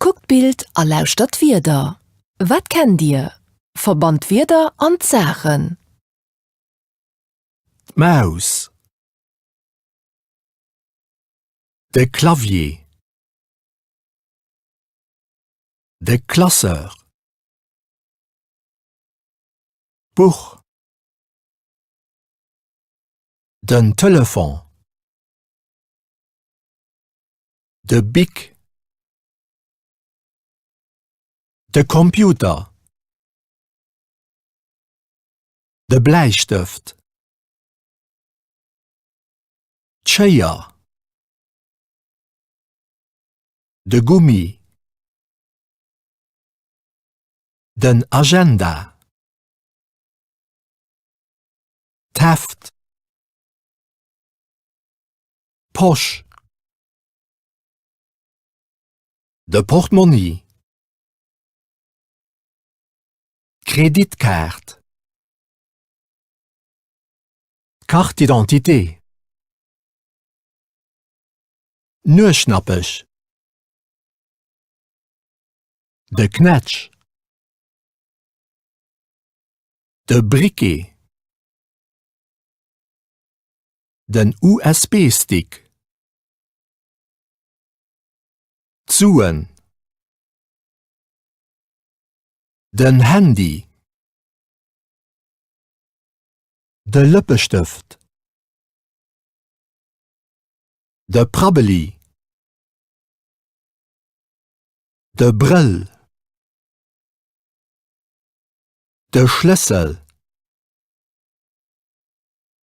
Kuckt d'Bild a lauschtert d'Wierder. Wat kennt Dir? Verbannt d'Wierder an d'Saachen. D'Maus. De Clavier. De Classeur. D'Buch. Den Telefon. De Bic. De Computer. De Bläistëft. D'Schéier. De Gummi. Den Agenda. D'Heft. Posch. De Portmonni. D'Kreditkaart. D'Carte d'identité. Nueschnappech. De Knätsch. De Briquet. Den USB-Stick. D'Suen. Den Handy. De Lëppestëft. De Prabbeli. De Brëll. De Schlëssel.